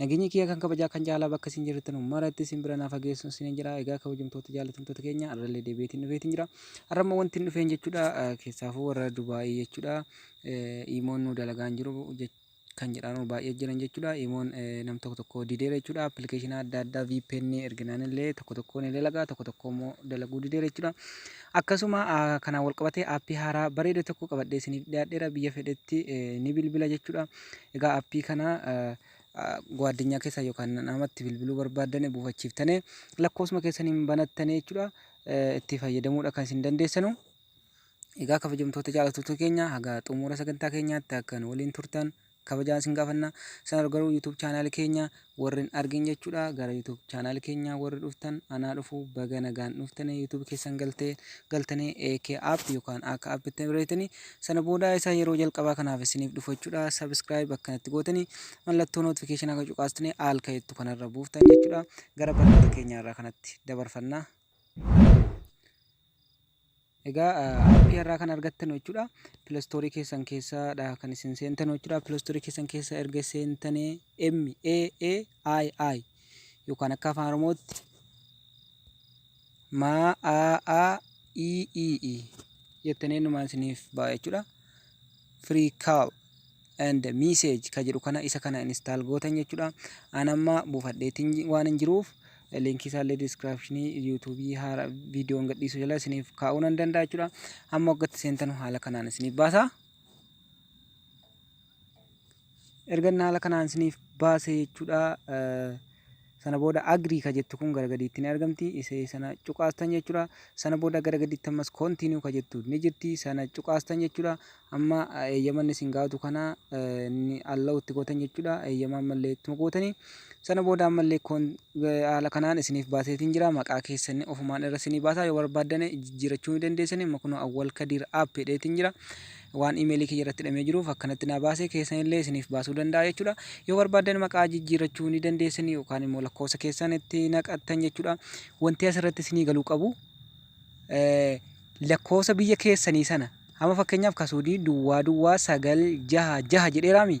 Nageenyi kiyya kan kabajaa kan jaalalaa bakka isin jirtanu maratti isin bira naa fageessun isinin jedha. Egaa kabajamtoota jaalatamtoota keenya arrallee deebi'eetiin dhufeetiin jira. Arra immoo wantin dhufeen jechuudha keessaafuu warra Dubaayii jechuudha iimoon nu dalagaan jiru kan jedhaanu baay'ee jiran jechuudha. Iimoon nam tokko tokko dideera jechuudha. Appilikeeshina adda addaa VPN erginaan illee tokko tokkoon ni dalagaa tokko tokko immoo dalaguu dideera jechuudha. Akkasuma kanaan wal qabatee aappii haaraa bareeda tokko qabadhee isiniif dhiyaadheera biyya fedhetti ni bilbila jechuudha. Egaa appii kana gwaadinyaa keessa yookaan namatti bilbiluu barbaaddane buufachiiftane lakkoofsuma keessan hin banattane jechuudha itti fayyadamuudha kan isin dandeessanu. Egaa kabajamtoota jaallattoota keenya haga xumura sagantaa keenyaatti akka nu waliin turtan kabajaan isin gaafanna. Sana garuu YouTube chaanaal keenya Warri hin argin jechudha gara YouTube channel keenyaa warri dhuftan anaa dhufu baga nagaan dhuftane YouTube keessan galte galtane AK app yookaan akka app itti bareetani sana booda isa yeroo jalqabaa kanaaf isiniif dhufu jechudha subscribe akkanatti gootani mallattoo notification akka cuqaastane al ka'ettu kanarra buuftan jechudha gara barnoota keenyaa irraa kanatti dabarfanna. Egaa appii har'aa kan argattanu jechuudha. Pilastoorii keessan keessaadha kan isin seentanu jechuudha. Pilastoorii keessan keessa erga seentanii M A A I I yookaan akka afaan Oromootti ma a a i i i jettanii numaan isiniif ba'a jechuudha. Free call. and message ka jedhu kana isa kana install gootan jechuudha an amma buufadheetiin waan hin jiruuf linkii isaallee description youtube haara viidiyoon gadhiisu jala isiniif kaa'uu nan danda'a jechuudha amma waggatti seentanu haala kanaan isiniif baasa erga inni haala kanaan isiniif baase jechuudha Sana booda agree ka jettu kun gara gadiitti ni argamti. Isee sana cuqaastan jechuudha. Sana booda gara gadiitti ammas continue ka jettu ni jirti. Sana cuqaastan jechuudha. Amma eeyyama inni isin gaafatu kana ni allow itti gootan jechuudha. Eeyyama ammallee ittuma gootanii. Sana booda ammallee haala kanaan isiniif baaseetiin jira. Maqaa keessan ofumaan irra isinii baasaa yoo barbaaddane jijjiirachuu ni dandeessanii. Amma kunoo Awwal Kadiir app jedheetiin jira. waan email kiyya irratti hidhamee jiruuf akkanatti naa baase keessan illee isiniif baasuu danda'a jechuudha. Yoo barbaaddan maqaa jijjiirrachuu ni dandeessan yookaan immoo lakkoofsa keessan itti naqattan jechuudha. Wanti asirratti isinii galuu qabu lakkoofsa biyya keessanii sana amma fakkeenyaaf kasuudii duwwaa duwwaa sagal jaha jaha jedheeraami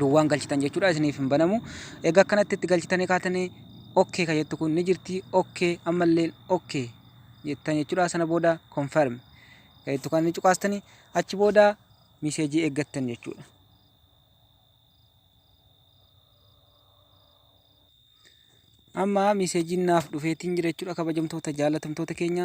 duwwaan galchitan jechuudha isiniif hin banamu egaa akkanatti itti galchitanii kaatanii okkee kan jettu kun ni jirti okkee ammalleen okkee jettan jechuudha sana booda confirm kan jettu kan ni cuqaastanii achi booda miseejii eeggattan jechuudha. Amma miseejiin naaf dhufeetiin jira jechuudha kabajamtoota jaalatamtoota keenya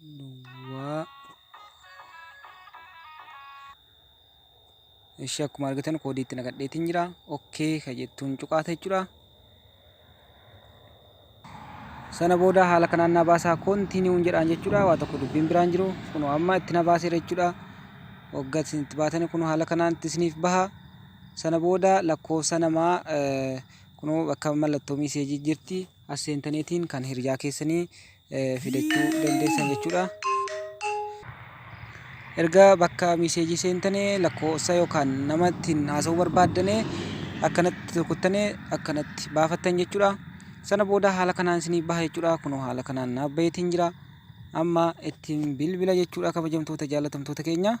duwwaa ishee akkuma argitan koodii itti naqadheetiin jira okkee ka jettuun cuqaata jechuudha sana booda haala kanaan na baasaa koontiiniiwuun jedhaan jechuudha waa tokko dubbiin biraan jiru kunoo amma itti na baaseera jechuudha waggaa isin itti baatanii kunoo haala kanaan itti isiniif baha sana booda lakkoofsa namaa eh, kunoo bakka mallattoo miiseejii jirti as seentaniitiin kan hiriyaa keessanii fidachuu dandeessan jechuudha. Erga bakka miseejii seentane lakkoofsa yookaan nama ittiin haasa'uu barbaaddane akkanatti tokkottane akkanatti baafattan jechuudha. Sana booda haala kanaan isinii baha jechuudha. Kunoo haala kanaan naaf baheetiin jira. Amma ittiin bilbila jechuudha kabajamtoota jaalatamtoota keenya.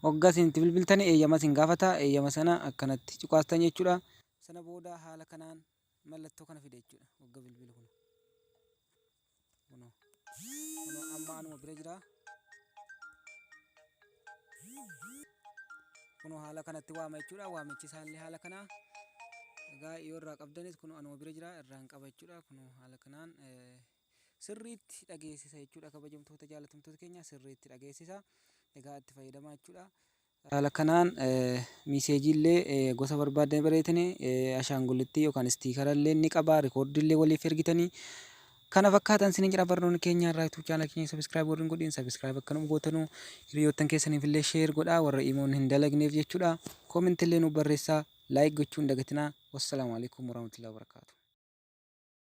Hoggaa isin itti bilbiltani eeyyama isin gaafata. Eeyyama sana akkanatti cuqaastan jechuudha. Sana booda haala kanaan mallattoo kana fida jechuudha wagga bilbila kuno kuno kuno amma anuma bira jira kuno haala kanatti waama jechuudha waamichi isaallee haala kanaa egaa yoo irraa qabdanis kuno anuma bira jira irraan qaba jechuudha kuno haala kanaan sirriitti dhageessisa jechuudha kabajamtoota jaalatamtoota keenya sirriitti dhageessisa egaa itti fayyadamaa jechuudha Haala kanaan miiseejiillee gosa barbaaddan bareetani, ashaangullittii yookaan istiikarallee ni qaba, rikoordiillee waliif ergitani. Kana fakkaatan isiniin jedha barnoonni keenya irraa YouTube channel keenya subscribe warri hin godhin subscribe akka nuuf gootanu hiriyoottan keessaniif illee share godhaa warra imoon hin dalagneef jechuudha. Comment illee nuuf barreessaa like gochuu hin dagatinaa. Wassalaamu alaikum warahmatullahi wabarakatuh.